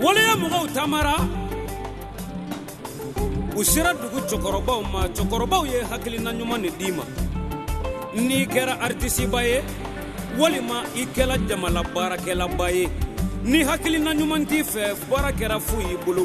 waleya mɔgɔw tamara u sera dugu cɛkɔrɔbaw ma cɛkɔrɔbaw ye hakilina ɲuman de d'i ma n'i kɛra aritisiba ye walima i kɛra jamana baarakɛlaba ye ni hakilina ɲuman t'i fɛ baara kɛra fu y'i bolo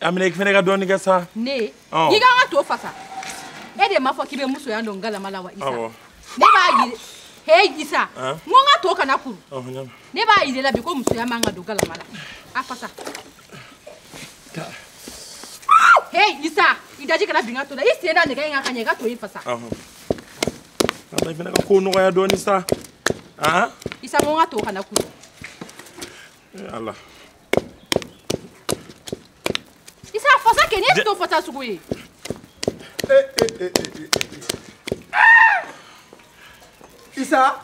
amina i fana ka dɔɔni kɛ sa ne i ka n ka to fasa e de m'a fɔ k'i bɛ musoya dɔn galama la wa isa ne b'a yiri he isa n ko n ka to kana kuru ne b'a yir'i la bi ko musoya man ka dɔn galama la a fasa he isa i daji kana bin ka to la i sen da nɛgɛ in kan ka ɲɛ i ka to in fasa ala i fana ka ko nɔgɔya dɔɔni sa isa n ko n ka to kana kuru ala isa fasa kɛ ne ye to fasa sugu ye isa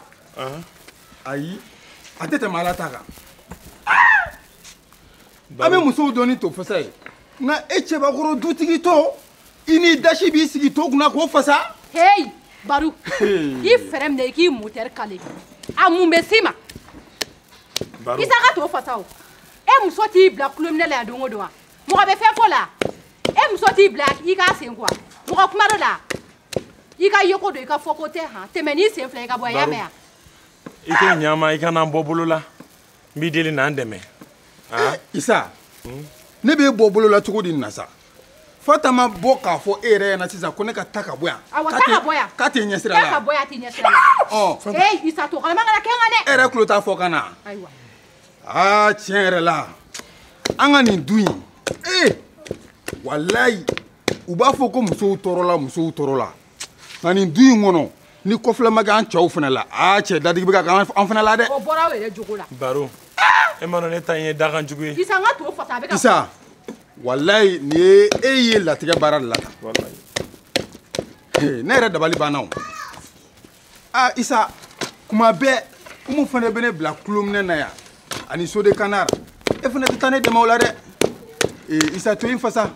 ayi a tɛ tɛmɛ ala ta kan an bɛ musow dɔn ni to fasa ye nka e cɛbakɔrɔ dutigitɔ i n'i dasi b'i sigi to kunna k'o fasa heyi baru i fɛrɛn minɛ i k'i motɛri kale a mun bɛ s'i ma isa ka to fasa o e muso t'i bila kulominɛ la yan don o don wa mɔgɔ bɛ fɛn fɔ la e muso t'i bila i k'a sen ko wa mɔgɔ kuma dɔ la i ka yeko don i ka fɔko tɛ han tɛmɛ n'i sen fila i ka bɔ a y'a mɛn yan i k'o ɲama i kana n bɔ bolo la n b'i deli na n dɛmɛ isa ne b'e bɔ bolo la cogo di nin na sa fanta ma bɔ k'a fɔ e yɛrɛ ɲɛ na sisan ko ne ka taa ka bɔ yan k'a tɛ ɲɛsira la ka bɔ yan a t'i ɲɛsira la ɔ ee isa to kalama kana kɛ n kan dɛ e yɛrɛ tulo t'a fɔkan na ayiwa aa tiɲɛ yɛrɛ la an ka nin du in ee walayi u b'a fɔ ko musow tɔɔrɔla musow tɔɔrɔla nka nin du in kɔnɔ ni kɔfilɛ ma kɛ an cɛw fana la aa cɛ dadigi bɛ ka kɛ an fana la dɛ o bɔra aw yɛrɛ jogo la baro e m'a dɔn ne ta in ye dakan jugu ye isa n ka to fasa a bɛ ka isa walayi nin ye e ye latigɛ baara de la tan ne yɛrɛ dabali banna o aa isa kuma bɛɛ umu fana bɛ ne bila kulominɛ na yan ani sode kanar e fana tɛ taa ne dɛmɛ o la dɛ ee isa to in fasa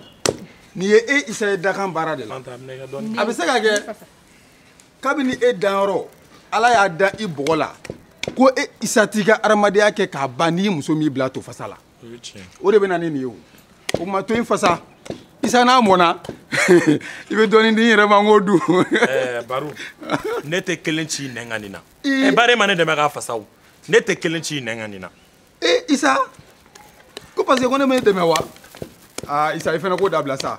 nin ye e isa ye dakan baara de la a bɛ se ka kɛ kabini e danyɔrɔ ala y'a da i bɔgɔ la ko e isa t'i ka adamadenya kɛ k'a ban n'i muso m'i bila to fasa la o de bɛ na ni nin ye o o kuma to in fasa isa n'a mɔna i bɛ dɔɔnin di n yɛrɛ ma n k'o dun. ɛɛ baro ne tɛ kelen c'i nɛn kan nin na ɛ bari e ma ne dɛmɛ k'a fasa o ne tɛ kelen c'i nɛn kan nin na. ee isa ko parce que ko ne ma e dɛmɛ wa aa isa i fana k'o dabila sa.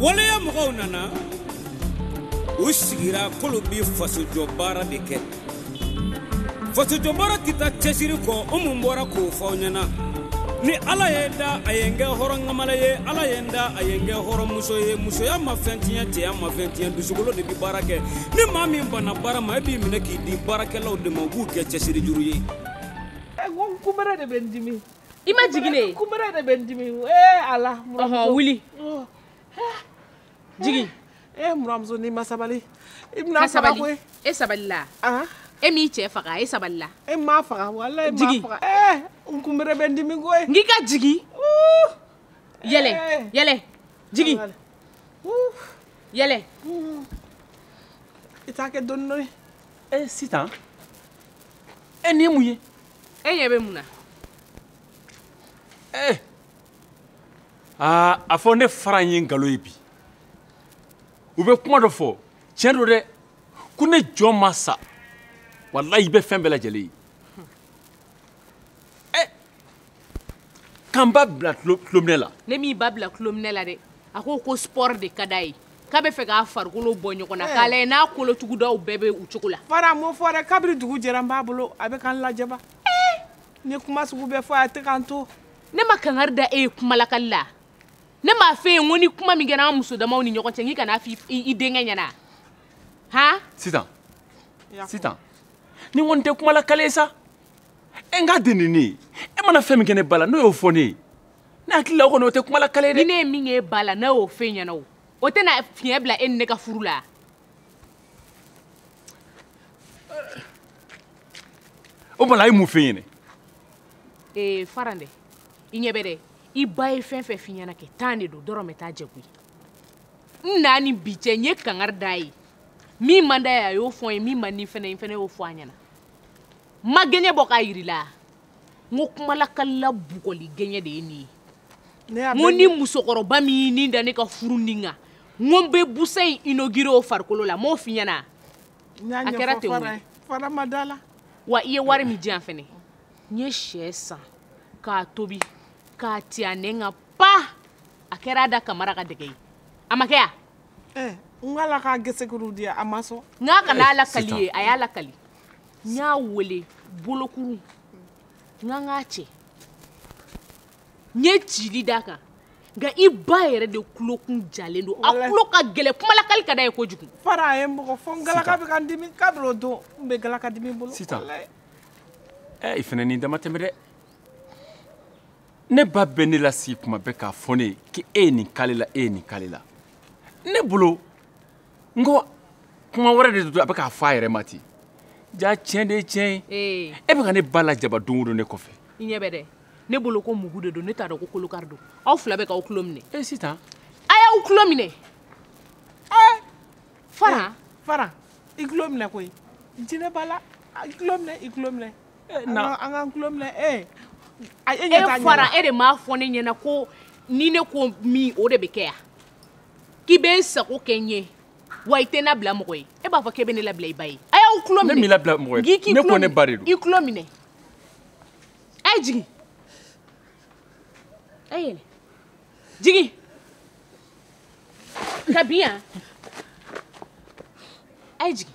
waleya mɔgɔw nana u sigira k'olu bi fasojɔ baara de kɛ fasojɔ baara tɛ taa cɛsiri kɔ o mun bɔra k'o fɔ aw ɲɛna ni ala ye n da a ye n kɛ hɔrɔnkamala ye ala ye n da a ye n kɛ hɔrɔnmuso ye musoya ma fɛn tiɲɛ cɛya ma fɛn tiɲɛ dusukolo de bi baara kɛ ni maa min banna baara ma e b'i minɛ k'i di baarakɛlaw de ma u b'u kɛ cɛsiri juru ye. kunbɛrɛ de bɛ n dimi. i ma jigin ne ye kunbɛrɛ de bɛ n dimi ee ala buranmuso ɔhɔn wuli oh. jigin ee eh, buranmuso n'i ma sabali i bɛna n faga koyi e sabalila ah. e m'i cɛ faga e sabalila e m'a faga walayi e m'a faga ee eh, n kunbɛrɛ bɛ n dimi koyi n k'i ka jigin yɛlɛ eh. yɛlɛ jigin yɛlɛ i t'a kɛ dɔɔni dɔɔni ee sitan e nin ye mun ye e ɲɛ bɛ mun na. ee eh. aa a fɔ ne faran ye nkalon ye bi u bɛ kuma dɔ fɔ tiɲɛ don dɛ ko ni jɔn ma sa walayi i bɛ fɛn bɛɛ lajɛlen ye ɛ eh. ka n ba bila tulominɛ la. ne m'i ba bila tulominɛ la dɛ a ko ko sport de ka d'a ye. k'a bɛ fɛ k'a farikolo bɔ ɲɔgɔn na eh. k'a lajɛ n'a kolotugudaw bɛɛ bɛ u cogo la. faran m'o fɔ dɛ kabiri dugu jɛra n b'a bolo a bɛ ka n lajaba. Eh. n ye kuma sugu bɛɛ fɔ a tɛ ka n to. ne ma kangari da e ye kumalakali la ne m'a f'e ye n ko ni kuma min kɛra an muso damaw ni ɲɔgɔn cɛ n k'i kan'a f'i denkɛ ɲɛna han. sitan sitan nin kɔni tɛ kumalakali ye sa e n k'a di nin ne ye e mana fɛn min kɛ ne ba la n'o y'o fɔ ne ye. ne hakili la o kɔni o tɛ kumalakali ye dɛ. ni ne ye min k'e ba la n'a y'o f'e ɲɛna o o tɛna fiɲɛ bila e ni ne ka furu la. o bala a ye mun f'e ɲɛna. ee faran dɛ i ɲɛ bɛ dɛ i ba ye fɛn fɛn f'i ɲɛna kɛ tan de don dɔrɔmɛ t'a jɛ koyi n na ni bi cɛ n ye kangari d'a ye min man d'a ye a y'o fɔ n ye min man di n fɛnɛ ye n fɛnɛ y'o fɔ a ɲɛna n ma gɛɲɛ bɔ k'a yir'i la. n ko kumalakalila bugɔli gɛɲɛ de ye nin ye n ko ni musokɔrɔba min y'i ni da ne ka furu nin kan n ko n bɛ busa in inaugurer o farikolo la n m'o f'i ɲɛna a kɛra ten o faran ma da la wa i ye wari min di yan fɛnɛ n ye sɛ san k'a tobi k'a ti a nɛn kan pa a kɛra a da kamara ka dɛgɛ ye a ma kɛ ya n ko ala k'a gesekuru di a ma sɔn n k'a kana a lakali i ye a y'a lakali n y'a wele bolokuru n k'an k'a cɛ n ye cili d'a kan nka i ba yɛrɛ de kulokun jalen don a kulo ka gɛlɛ kumalakali ka d'a ye kojugu fara a ye n bugɔ fɔ n galaka bɛ ka n dimi kabiri o don n bɛ galaka dimi bolo sitan ɛ i fana n'i dama tɛmɛ dɛ ne ba bɛ ne lasigi kuma bɛɛ k'a fɔ ne ye k'e ye nin k'ale la e ye nin k'ale la ne bolo n ko kuma wɛrɛ de don a bɛ k'a fɔ a yɛrɛ ma ten ja tiɲɛ de ye tiɲɛ ye e bɛ ka ne ba lajaba don o don ne kɔfɛ i ɲɛ bɛ dɛ ne bolo ko mugu de don ne t'a dɔn ko kolokari don aw fila bɛ k'aw tulo minɛ e sitan a y'aw tulo minɛ ɛɛ fara fara i tulo minɛ koyi jinɛ b'a la i tulo minɛ i tulo minɛ an k'an tulo minɛ ee e fara e de m'a fɔ ne ɲɛna ko ni ne ko min o de bɛ kɛ yan k'i bɛ n sago kɛ n ye wa i tɛ n labila mɔgɔ ye e b'a fɔ k'e bɛ ne labila i ba ye a y'aw tulo minɛ ne m'i labila mɔgɔ ye ne ko ne ba de don i tulo minɛ a ye jigin a ye yɛlɛ jigin ka bin yan a ye jigin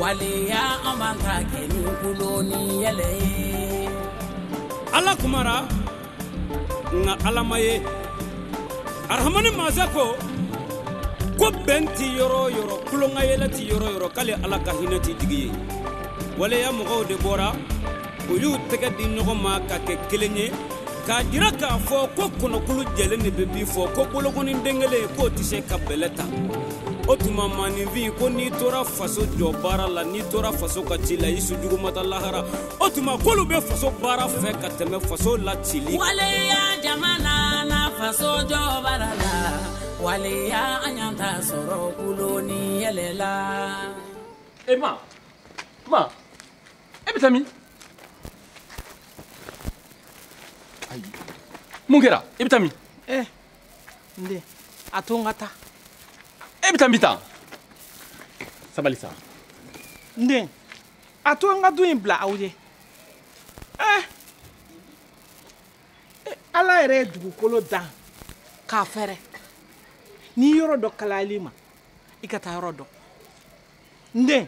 waleya an man ka kɛ ni kulon ni yɛlɛ ye ala kumara nka ala ma ye arahamani masa ko ko bɛn tɛ yɔrɔ o yɔrɔ kulonkayɛlɛ tɛ yɔrɔ o yɔrɔ k'ale ala ka hinɛ tɛ jigin yen waleya mɔgɔw de bɔra u y'u tɛgɛ di ɲɔgɔn ma ka kɛ kelen ye k'a jira k'a fɔ ko kɔnɔkulu jɛlen de bɛ bi fɔ ko bolokɔni den kelen k'o tɛ se ka bɛlɛ ta o tuma maaninfin ko n'i tora faso jɔ baara la n'i tora faso ka ci la i su jugu ma taa lahara o tuma k'olu bɛ faso baara fɛ ka tɛmɛ faso la cili waleya jama nana faso jɔ baara la waleya an y'an ta sɔrɔ kulon ni yɛlɛ la. e ma ma. e bɛ taa min ayi mun kɛra i bɛ taa min ɛ eh, n den a to n ka taa e bɛ taa min tan sabali sa n den a to n ka du in bila aw ye ɛ eh, eh, ala yɛrɛ ye dugukolo dan k'a fɛrɛ ni yɔrɔ dɔ kalayal'i ma i ka taa yɔrɔ dɔ n den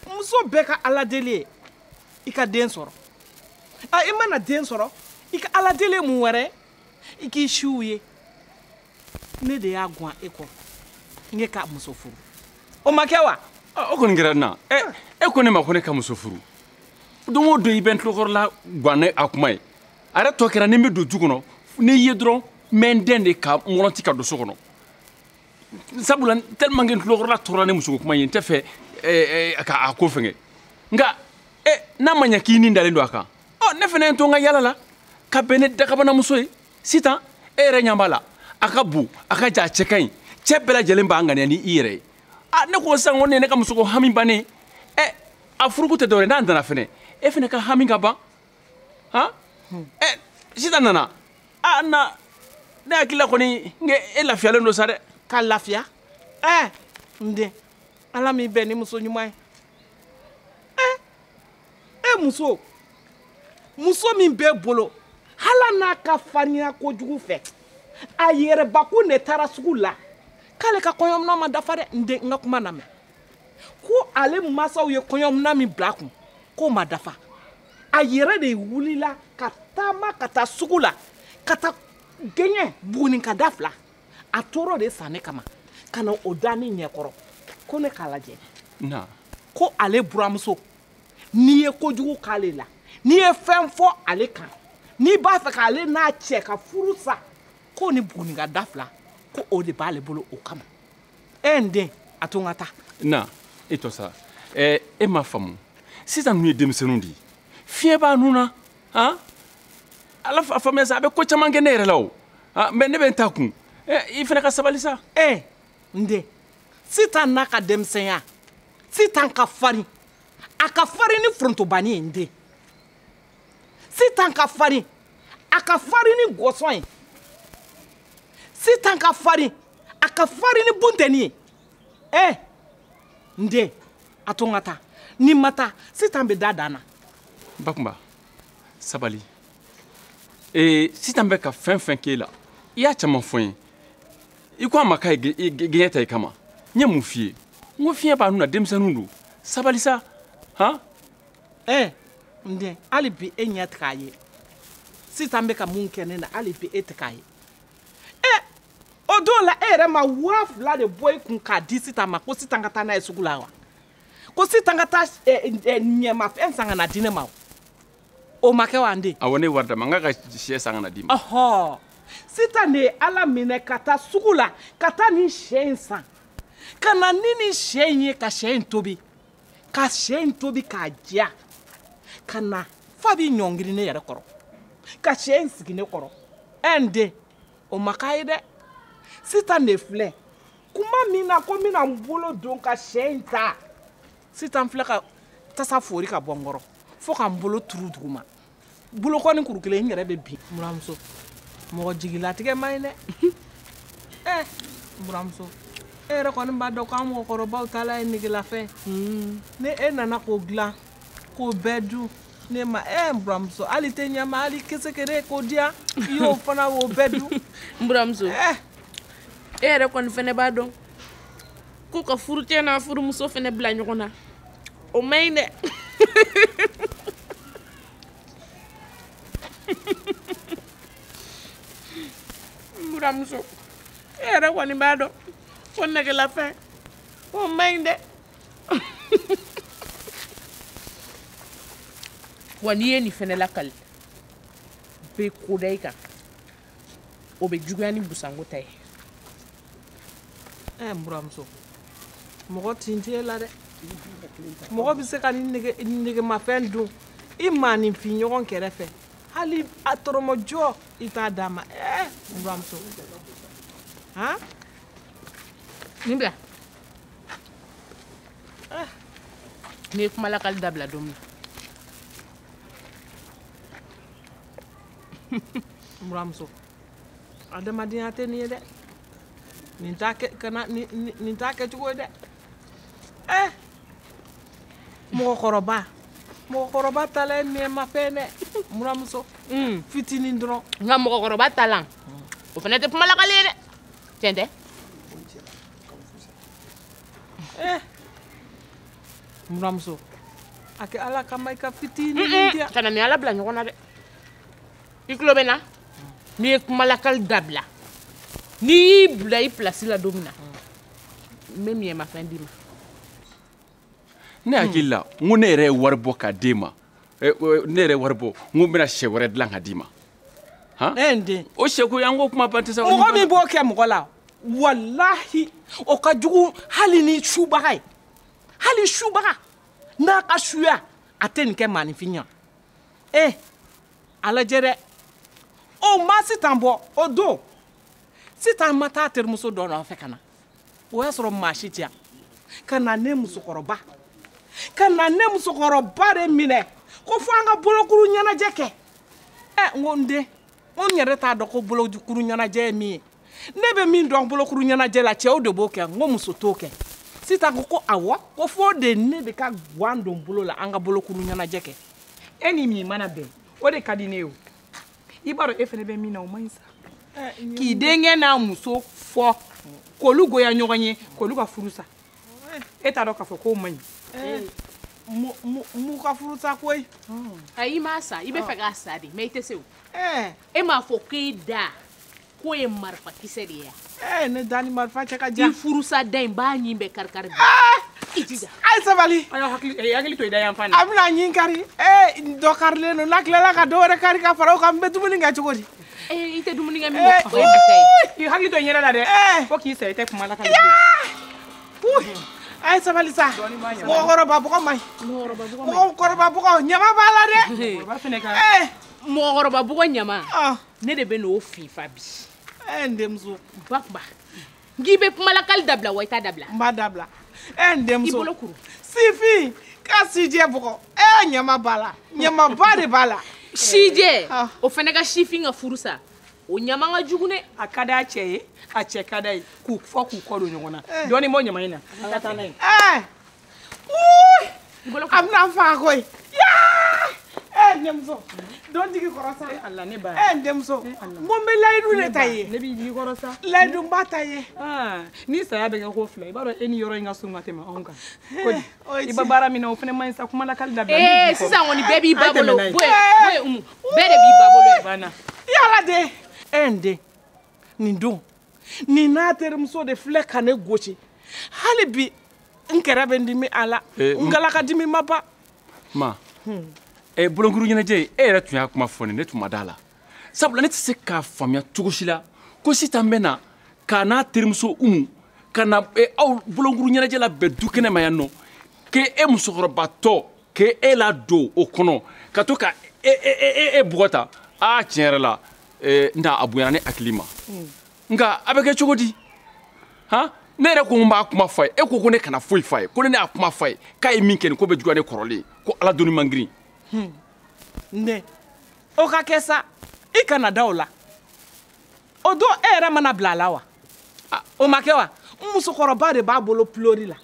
muso bɛɛ ka ala deli ye i ka den sɔrɔ a i mana den sɔrɔ i ka ala deli mun wɛrɛ i k'i siw ye ne de y'a gan e kɔ n ye ka muso furu o ma kɛ wa o kɔni kɛra na e ko ne ma ko ne ka muso furu don o don i bɛ n tulokɔrɔla gan ni a kuma ye a yɛrɛ tɔ kɛra ni n bɛ don du kɔnɔ n'i ye dɔrɔn n bɛ n dɛndɛ ka mɔlɔnti ka don so kɔnɔ sabula tellement que n tulokɔrɔla tɔɔrɔla ni musoko kuma ye n tɛ fɛ eh, eh, ka a ko fɛngɛ nka eh, n'a ma ɲɛ k'i ni dalen don a kan ɔ ne fana ye n to n ka yala la ka bɛn ni dakabanamuso ye sitan e yɛrɛ ɲɛ b'a la a ka bon a ka jan a cɛ ka ɲi cɛ bɛɛ lajɛlen b'a ŋaniya ni i yɛrɛ ye a ne ko sisan ko ne ye ne ka musoko hami bannen ɛ a furukun tɛ dɔwɛrɛ n'a nana fɛnɛ e fɛnɛ ka hami ka ban han ɛ sitan nana a na ne hakili la kɔni n kɛ e lafiyalen don sa dɛ ka lafiya ɛɛ n den ala m'i bɛn ni muso ɲuman ye ɛ e muso muso min b'e bolo hala n'a ka farinya kojugu fɛ a yɛrɛbakun de taara sugu la k'ale ka kɔɲɔminɛn ma dafa dɛ n den n ka kuma lamɛn ko ale masaw ye kɔɲɔmina min bila a kun k'o ma dafa a yɛrɛ de wulila ka taama ka taa sugu la ka taa gɛɲɛ buguninka da fila a toro de san ne kama ka na o da ne ɲɛkɔrɔ ko ne k'a lajɛ ko ale buramuso n'i ye kojugu k'ale la n'i ye fɛn fɔ ale kan n'i b'a fɛ k'ale n'a cɛ ka furu sa ko nin buguninka da fila ko o de b'ale bolo o kama e n den a to n ka taa na e tɔ sa eh, e m'a faamu sitan ninnu ye denmisɛnninw de ye fiɲɛ b'a nun na han a faamuya sa a bɛ ko caman kɛ ne yɛrɛ la o ah, mɛ ne bɛ n ta kun eh, i fana ka sabali sa e n den sitan n'a ka denmisɛnya sitan ka farin a ka farin ni forontobani ye n den sitan ka farin a ka farin ni gɔsɔn ye sitan ka farin a ka farin ni buntɛni ye ɛ eh, n den a to n ka taa ni n ma taa sitan bɛ da dan na bakumba sabali ee eh, sitan bɛ ka fɛn fɛn k'e la i y'a caman fɔ n ye i ko a ma k'a ye gɛɲɛ ta i kama n ye mun f'i ye n ko fiɲɛ b'a nun na denmisɛnninw don sabali sa han ɛɛ eh, n den hali bi e ɲɛ tɛ k'a ye sitan bɛ ka mun kɛ ne na hali bi e tɛ k'a ye o don la e yɛrɛ ma waa fila de bɔ i kun k'a di sitan ma ko sitan ka taa n'a ye sugu la wa ko sitan ka taa ɲɛmafɛn san ka na di ne ma o ma kɛ wa n den. awɔ ne ye wari d'a ma n k'a ka sɛ san ka na d'i ma. ɔhɔ sitan de ye a laminɛ ka taa sugu la ka taa nin sɛ in san ka na ni nin sɛ in ye ka sɛ in tobi ka sɛ in tobi k'a diya ka na f'a b'i ɲɔngiri ne yɛrɛ kɔrɔ ka sɛ in sigi ne kɔrɔ ɛ n den. o ma k'a ye dɛ sitan de filɛ kuma min na ko n bɛna n bolo don ka sɛ in ta sitan filɛ ka tasa fori ka bɔ n kɔrɔ fo ka n bolo turu duguma bolokɔni kuru kelen n yɛrɛ bɛ bin buramuso mɔgɔ jigilatigɛ man ɲi dɛ ɛ eh, buramuso e yɛrɛ kɔni b'a dɔn k'an mɔgɔkɔrɔbaw taala ye negelafɛn hmm. ni e nana k'o dilan k'o bɛɛ dun ne ma ɛ n buramuso hali tɛ ɲɛma hali kesekere k'o diya i y'o fana o bɛɛ dun n buramuso eh. e yɛrɛ kɔni fɛnɛ b'a dɔn ko ka furucɛ n'a furumuso fɛnɛ bila ɲɔgɔn na o man ɲi dɛ n buramuso e yɛrɛ kɔni b'a dɔn ko negelafɛn o man ɲi dɛ wa n'i ye nin fɛnɛ lakali bɛ ko da i kan o bɛ juguya ni busanko ta ye ɛ eh, n buramuso mɔgɔ tin tɛ e la dɛ mɔgɔ bɛ se ka nin negemafɛn dun i maaninfin ɲɔgɔn kɛrɛfɛ hali a tɔrɔmɔjɔ i t'a d'a ma ɛ eh, n buramuso han nin bila ah. n'i ye kumalakali dabila don min buramuso adamadenya tɛ nin ye dɛ nin t'a kɛcogo ye dɛ ɛ eh. mɔgɔkɔrɔba mɔgɔkɔrɔba tala ye nɛɛmafɛn dɛ buramuso hmm. fitinin dɔrɔn nka mɔgɔkɔrɔba talan o fana tɛ kumalakali ye dɛ tiɲɛ tɛ Eh. buramuso a kɛ ala kama i ka fitinin di yan kana n ni ala bila ɲɔgɔn na dɛ i tulo bɛ n na n'i ye kumalakali dabila n'i y'i bila i pilasi la don min na n bɛ negemafɛn d'i ma ne hakili la n ko ne yɛrɛ ye wari bɔ k'a d'e ma eh, eh, ne yɛrɛ ye wari bɔ n ko n bɛna sɛ wɛrɛ dilan k'a d'i ma eh, n den o sɛko ye an ko kuma ban tɛ sa mɔgɔ min b'o kɛ mɔgɔ la walahi o ka jugu hali ni subaga ye hali subaga n'a ka suya a tɛ nin kɛ maaninfin ɲɛ ee a lajɛ dɛ o ma sitan bɔ o don sitan ma taa terimuso dɔ nɔfɛ ka na o y'a sɔrɔ maa si tɛ yan ka na ne musokɔrɔba ka na ne musokɔrɔba de minɛ ko fo an ka bolokuru ɲɛnajɛ kɛ ɛ n ko n den ko n yɛrɛ t'a dɔn ko bolokuru ɲɛnajɛ ye min ye ne bɛ min dɔn bolokuru ɲɛnajɛ la cɛw de b'o kɛ n ko muso t'o kɛ sitan ko ko awɔ ko fo de ne de ka gan don bolo la an ka bolokuru ɲɛnajɛ kɛ e ni min mana bɛn o de ka di ne ye o i b'a dɔn e fana bɛ min na o man ɲi sa k'i denkɛ n'a muso fɔ k'olu goya ɲɔgɔn ye k'olu ka furu sa e t'a dɔn k'a fɔ k'o man ɲi n m'u ka furu sa koyi ayi i m'a sa i bɛ fɛ k'a sa de mɛ i tɛ se o e m'a fɔ k'e da k'o ye marifa kisɛ de ye yan. ɛɛ eh, ne da ni marifa cɛ ka jan. i furusa da in b'a ɲin bɛɛ karikari bi. Eh! i jija. a ye sabali. a y'aw hakili eh, hakili to i da yan fan na. a bɛna ɲin kari ee dɔ karilen don n'a tilala ka dɔ wɛrɛ kari ka fara o kan n bɛ dumuni kɛ cogo di. ee i tɛ dumuni kɛ min kɛ o ye bita ye. i hakili to i yɛrɛ la dɛ. fo k'i sa i tɛ kuma la ka ɲɛ. a ye sabali sa mɔgɔkɔrɔba bɔgɔ man ɲi mɔgɔkɔrɔba bɔgɔ ɲama b'a la dɛ mɔgɔkɔrɔba bɔgɔ ɲama ne de bɛ n'o finfa bi ɛ n denmuso ba kunba n k'i bɛ kumalakali dabila wa i t'a dabila n b'a dabila ɛ n denmuso i bolo kuru sifin ka sijɛ bɔgɔ ɛ ɲama b'a la ɲamaba de b'a la sijɛ ah. o fana ka sifin ka furu sa o ɲama ka jugu dɛ a ka d'a cɛ ye a cɛ ka d'a ye k'u fɔ k'u kɔ don ɲɔgɔn na eh. dɔɔnin bɔ ɲama in na ka taa n'a ye eh. a bɛna n faga koyi yaa eh n denmuso don n jigi kɔrɔ sa Allah ne ba eh n denmuso n ko n bɛ layidu de ta i ye ne b'i jigi kɔrɔ sa layidu n b'a ta i ye ni saya bɛ kɛ ko fila i b'a dɔn e ni yɔrɔ in ka surun ka tɛmɛ anw kan i bɛ baara min na o fana man ɲi sa kumalakali dabila ee sisan kɔni bɛɛ b'i ba bolo bɔ yen bɔ yen Umu bɛɛ de b'i ba bolo ye banna yala de eh n den nin don nin n'a terimuso de filɛ ka ne gosi hali bi n kɛrɛ bɛ n dimi a la eh, n galaka dimi ma ban ma hmm. eh, bolonkuru ɲɛnajɛ e yɛrɛ tun y'a kuma fɔ ne ne tun ma da a la sabula ne tɛ se k'a faamuya cogo si la ko sitan bɛ na k'a n'a terimuso umu ka na eh, aw bolonkuru ɲɛnajɛ labɛn dukɛnɛ ma yan nɔ k'e e musokɔrɔbatɔ k'e e ladon o kɔnɔ ka to ka e e e e bugɔ tan aa tiɲɛ yɛrɛ la eh, nta a bonyana ne hakili ma hmm. nka a bɛ kɛ cogo di han ne yɛrɛ ko n b'a kuma fɔ a ye e ko ko ne kana foyi fɔ a ye ko ni ne y'a kuma fɔ a ye k'a ye min kɛ nin ko bɛ juguya ne kɔrɔlen ko ala doni man girin hmm. ne o ka kɛ sa i kana da o la o don e yɛrɛ ma ne bila a la wa ah. o ma kɛ wa n musokɔrɔba de b'a bolo pilori la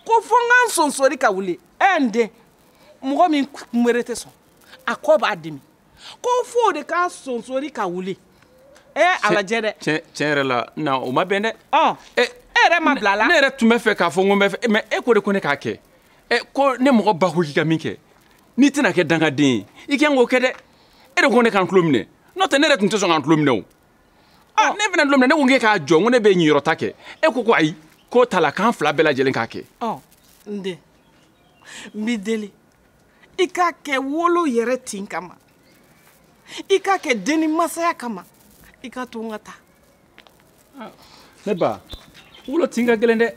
ko fo n ka n sonsori ka wuli ɛ n den mɔgɔ min kunbere tɛ sɔn a kɔ b'a dimi ko f'o de k'a sonsori ka wuli ee eh, a lajɛ dɛ tiɲɛ yɛrɛ la na o ma bɛn dɛ ɔ e yɛrɛ ma n bila a la ne yɛrɛ tun bɛ fɛ k'a fɔ n ko n bɛ fɛ mɛ e ko de ko ne k'a kɛ ɛ ko ne mɔgɔ ba ko k'i ka min kɛ n'i tɛna kɛ dangaden ye i kan k'o kɛ dɛ e de ko ne ka n tulo minɛ n'o tɛ ne yɛrɛ tun tɛ sɔn ka n tulo minɛ o ɔ ne fana tulo minɛ ne ko k'e k'a jɔ n ko ne bɛ ɲiyɔrɔ ta kɛ e ko ko ayi k'o t'a la k'an fila bɛɛ lajɛlen k'a kɛ ɔ n den n b'i deli i k'a kɛ wolo yɛrɛ tin kama i k'a kɛ denni masaya kama i ka to n ka taa ah, ne ba wolo tin ka gɛlɛn dɛ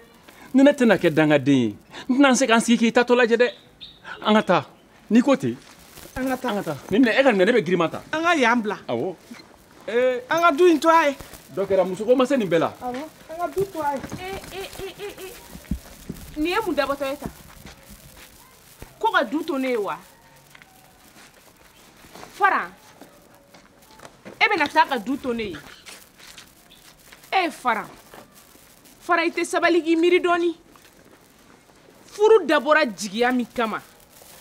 ni ne tɛna kɛ dangaden ye n tɛna se ka n sigi k'i taatɔ lajɛ dɛ an ka taa n'i ko ten an ka taa an ka taa nin minɛ e ka minɛ ne bɛ girinman ta an ka yan bila awɔ ee an ka du in to a ye dɔ kɛra musoko ma se nin bɛɛ la awɔ an ka du to a ye ee ee ee ee nin ye mun dabatɔ ye tan ko ka du to ne ye wa faran e bɛna taa ka du to ne ye ee faran faran i tɛ sabali k'i miiri dɔɔni furu dabɔra jigiya min kama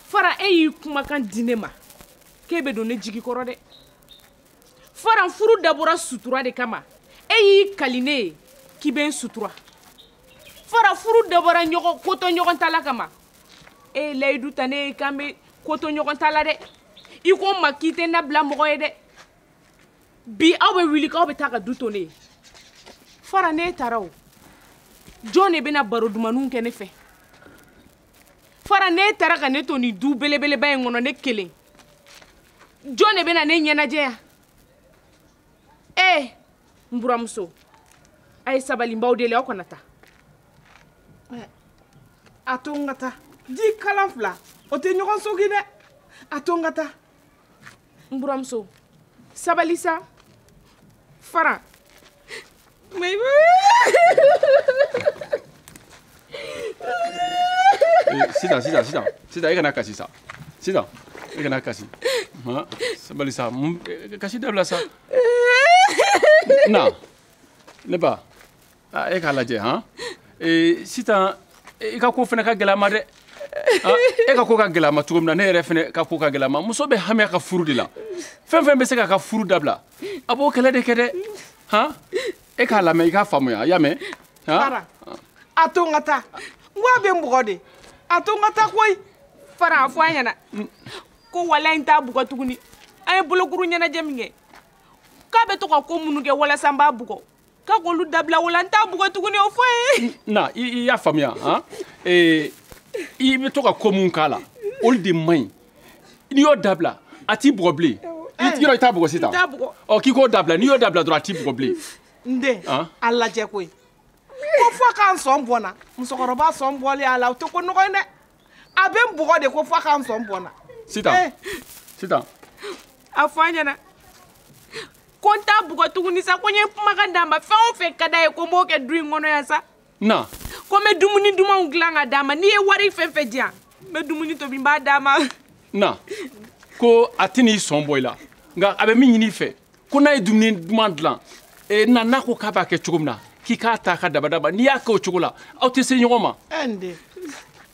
faran e y'i kumakan di ne ma k'e bɛ don ne jigi kɔrɔ dɛ faran furu dabɔra sutura de kama e y'i kali ne ye k'i bɛ n sutura faran furu dabɔra ɲɔgɔn koto ɲɔgɔn ta la kama e ye layidu ta ne ye k'an bɛ koto ɲɔgɔn ta la dɛ i ko n ma k'i tɛ n nabila mɔgɔ ye dɛ bi aw bɛ wuli k'aw bɛ taa ka du to ne ye faran n'e taara o jɔn de bɛna baro dumanninw kɛ ne fɛ faran n'e taara ka ne to nin du belebeleba in kɔnɔ ne kelen jɔn de bɛna ne ɲɛnajɛ yan ee n buramuso a ye sabali n b'aw deli aw kana taa a to n ka taa ji kalan fila o tɛ ɲɔgɔn sogi dɛ a to n ka taa n buramuso sabali sa fara mais sisan sisan sisan sisan e kana kasi sa sisan e kana kasi sabali sa kasi dabila sa na ne ba ah, e k'a lajɛ han eh, sitan i ka ko fana ka gɛlɛn a ma dɛ ah, e ka ko ka gɛlɛn a ma cogo min na ne yɛrɛ fana ka ko ka gɛlɛn a ma muso bɛ hami a ka furu de la fɛn fɛn bɛ se k'a ka furu dabila a b'o kɛlɛ de kɛ dɛ han e k'a lamɛn i k'a faamuya y'a mɛn faran a to n ka taa n ko a bɛ n bugɔ de a to n ka taa koyi faran a fɔ a ɲɛna ko walayi n t'a bugɔ tuguni an ye bolokuru ɲɛnajɛ min kɛ k'a bɛ to ka ko minnu kɛ walasa n b'a bugɔ k'a k'olu dabila wala n t'a bugɔ tuguni o f'a ye na i y'a faamuya han ee i bɛ to ka ko minnu k'a la olu de man ɲi n'i y'o dabila a t'i bugɔ bilen yɔrɔ i t'a bugɔ sisan ɔ k'i k'o dabila n'i y'o dabila dɔrɔn a t'i bugɔ bilen n den a lajɛ koyi ko fo ka n sɔn bɔ n na musokɔrɔba sɔn bɔli a la o tɛ ko nɔgɔ ye dɛ a bɛ n bugɔ de ko f'a ka n sɔn bɔ n na sitan eh. sitan a fɔ a ɲɛna ko n t'a bugɔ tuguni sa ko n ye kumakan d'a ma fɛn o fɛn ka d'a ye ko n b'o kɛ du in kɔnɔ yan sa na ko n bɛ dumuni dumanw dilan ka d'a ma n'i ye wari fɛn fɛn di yan n bɛ dumuni tobi n b'a d'a ma na ko a tɛna i sɔn bɔ i la nka a bɛ min ɲini i fɛ ko n'a ye dumuni duman dilan e, na n'a ko k'a b'a kɛ cogo min na k'i k'a ta ka dabadaba n'i y'a kɛ o cogo la aw tɛ se ɲɔgɔn ma. ɛ n den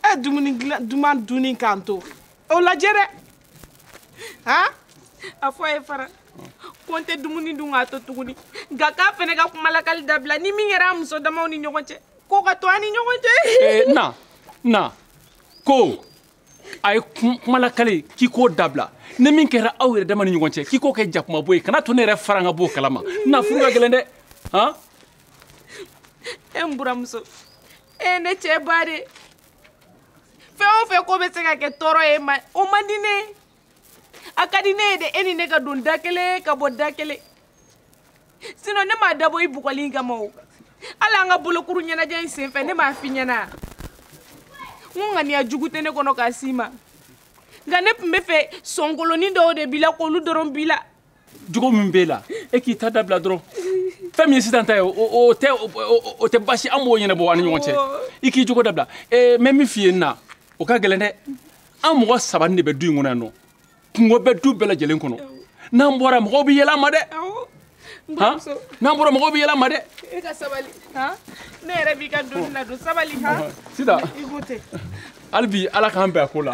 ɛ dumuni duman dunni k'an to o lajɛ dɛ han a fɔ a ye fara ko n tɛ dumuni dun k'a to tuguni nka k'a fana ka kumalakali dabila ni min kɛra an muso damaw ni ɲɔgɔn cɛ k'o ka to an ni ɲɔgɔn cɛ. ɛ na na ko. a ye kumalakali k'i k'o dabila ni min kɛra aw yɛrɛ dama ni ɲɔgɔn cɛ k'i k'o kɛ jakumabo ye kana to ne yɛrɛ faran ka b'o kalama na furu ka gɛlɛn dɛ han e n buranmuso e ne cɛ ba de fɛn o fɛn ko bɛ se ka kɛ tɔɔrɔ y'e ma o man di ne ye a ka di ne ye de e ni ne ka don da kelen ka bɔ da kelen sinɔn ne m'a dabɔ i bugɔli in kama o hali an ka bolokuru ɲɛnajɛ in senfɛ ne m'a f'i ɲɛna n ko ŋaniya jugu tɛ ne kɔnɔ k'a s'i ma nka ne tun b'a fɛ sɔnkolonin dɔw de b'i la k'olu dɔrɔn b'i la jogo min b'e la e k'i ta dabila dɔrɔn fɛn min ye sisan ta ye o tɛ basi an b'o ɲɛnabɔ an ni ɲɔgɔn cɛ i k'i jogo dabila n bɛ min f'i ye n na o ka gɛlɛn dɛ an mɔgɔ saba de bɛ du in kɔnɔ yan nɔ kunko bɛ du bɛɛ lajɛlen kɔnɔ n'an bɔra mɔgɔw bɛ yɛlɛ an ma dɛ n'an bɔra mɔgɔw bɛ yɛlɛ an ma dɛ. e ka sabali ne yɛrɛ b'i ka donni na don sabali sisan hali bi ala k'an bɛn a ko la.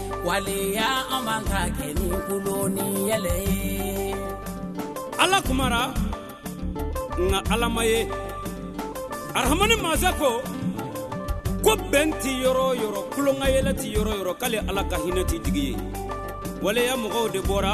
waleya an b'an ta kɛ ni tulon ni yɛlɛ ye ala kumara nka ala ma ye arahamani masa ko ko bɛn tɛ yɔrɔ o yɔrɔ tulonkayɛlɛ tɛ yɔrɔ o yɔrɔ k'ale ala ka hinɛ tɛ jigin yen waleya mɔgɔw de bɔra